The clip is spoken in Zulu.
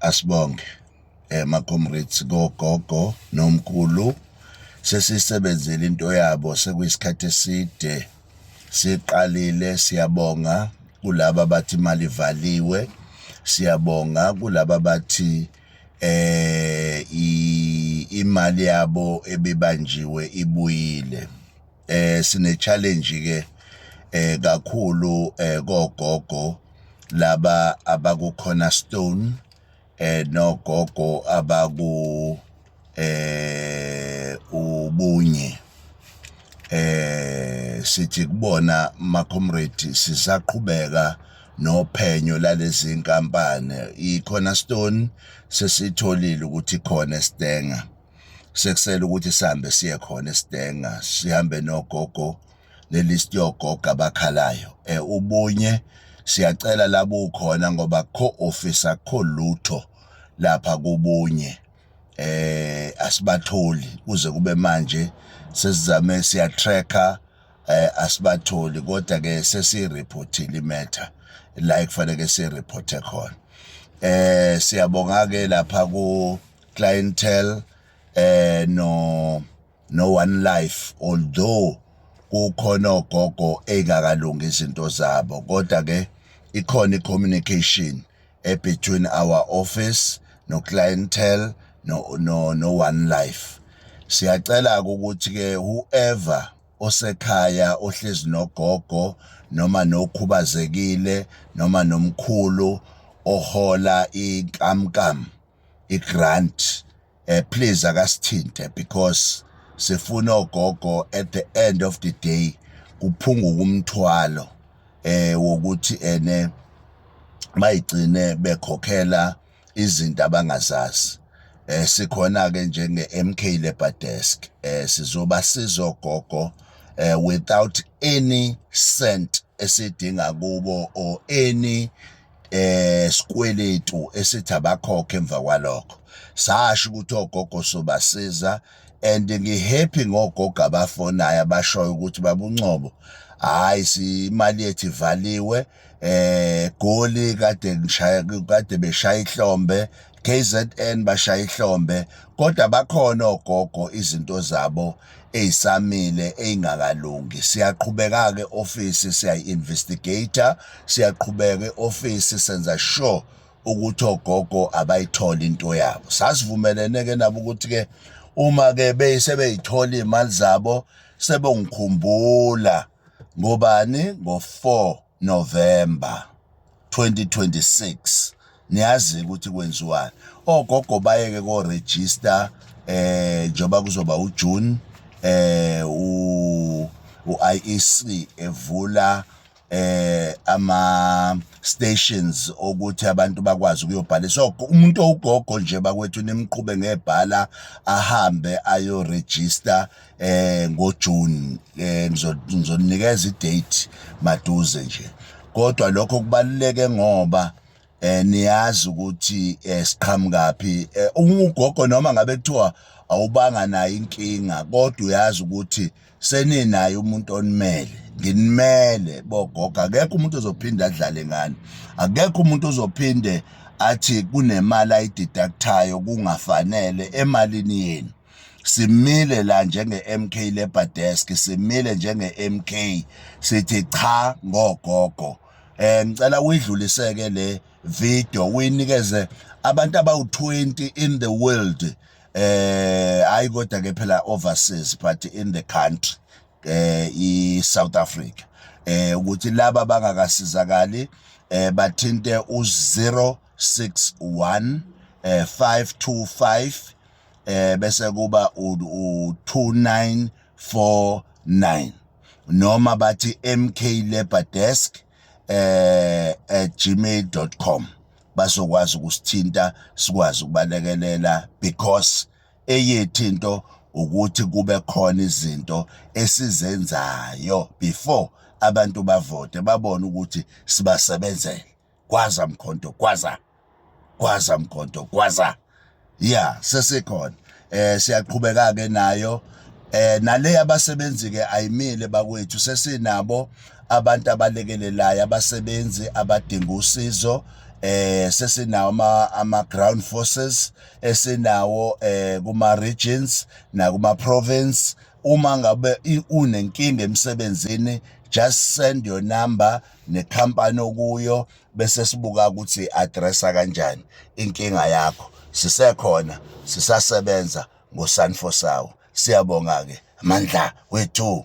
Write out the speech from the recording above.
Asibonge ma-comrades kogogo nomkhulu sesiyisebenzile into yabo sekuyisikhathi eside siqalile. Siyabonga kulaba abathi imali ivaliwe, siyabonga kulaba abathi eh imali yabo ebebanjiwe ibuyile. eh sine challenge ke eh kakhulu eh kogogo laba abaku cornerstone eh nogogo abaku eh ubunye eh sithi kubona ma comrade sisaqhubeka nophenyo lalezi nkampani i cornerstone sesitholile ukuthi khona estenga sekusele ukuthi sihambe siye khona esidenga sihambe nogogo lelist yogogo abakhalayo eh ubunye siyacela labo ukhona ngoba kho office akho lutho lapha kubunye eh asibatholi kuze kube manje sesizame siya tracker eh asibatholi kodwa ke sesi reportile imatter la ekufanele si reporte khona eh siyabonga ke lapha ku clientele eh no no one life although kukhona ogogo engakalungi izinto zabo kodwa ke ikhona icommunication e between our office no clientele no no no one life siyacela ukuthi ke whoever osekhaya ohlezi nogogo noma nokhubazekile noma nomkhulu ohola inkamnkam igrant eh, please akasithinte because sifuna ogogo at the end of the day kuphunguka umthwalo eh wokuthi ene bayigcine bekhokhela izinto abangazazi eh sikhona ke njenge MK Labor Desk eh sizoba sizogogo eh without any cent esidinga kubo or any eh sikweletu esithi abakhokhe emva kwalokho sasho ukuthi ogogo sobasiza and ngihappy ngogogo abafonayo abashoyo ukuthi babuncobo hayi imali yethu ivaliwe eh goli kade ngishaya kade beshaya ihlombe KZN bashaya ihlombe kodwa bakhona ogogo izinto zabo ezisamile ezingakalungi siyaqhubeka ke office siyayi investigator siyaqhubeka eoffice senza sure ukuthi ogogo abayitholi into yabo sasivumelene ke nabo ukuthi ke uma ke beyisebeyithola imali zabo sebongikhumbula ngobani ngo 4 November 2026 niyazi ukuthi kwenziwani ogogo bayeke ko register eh njoba kuzoba uJune eh u IEC evula eh ama stations okuthi abantu bakwazi ukuyobhala so umuntu owugogo nje bakwethu nimqhube ngebhala ahambe ayo register eh ngoJune eh ngizoninikeza idate maduze nje kodwa lokho kubaluleke ngoba eh niyazi ukuthi eh, siqhamukaphi eh, ungugogo noma ngabe kuthiwa awubanga nayo inkinga kodwa uyazi ukuthi seninaye umuntu onimele nginimele bogogo akekho umuntu ozophinde adlale ngani akekho umuntu ozophinde athi kunemali ayideductayo kungafanele emalini yenu simile la njenge-MK Labour Desk simile njenge-MK sithi cha ngogogo eh ngicela uyidluliseke le video uyinikeze abantu abawu-20 in the world eh hayi kodwa ke phela overseas but in the country eh i-South Africa eh ukuthi laba bangakasizakali eh bathinte u061 eh 525 eh bese kuba u2949 noma bathi mklabordesk eh at gmail.com basokwazi ukusithinta sikwazi ukubalekelela because eyethi into ukuthi kube khona izinto esizenzayo before abantu bavote babone ukuthi sibasebenzele kwaza mkhonto kwaza gwaza mgodo gwaza ya sesikhona eh siyaqhubeka ke nayo eh nale yabasebenzi ke ayimile bakwethu sesinabo abantu abalekelelayo abasebenzi abadinga usizo eh sesinawo ama ama ground forces esinawo eh kuma regions na kuma province uma ngabe unenkinga emsebenzini just send your number necompany okuyo bese sibuka ukuthi addressa kanjani inkinga yakho sisekhona sisasebenza ngosanfosawo siyabonga-ke mandla wethu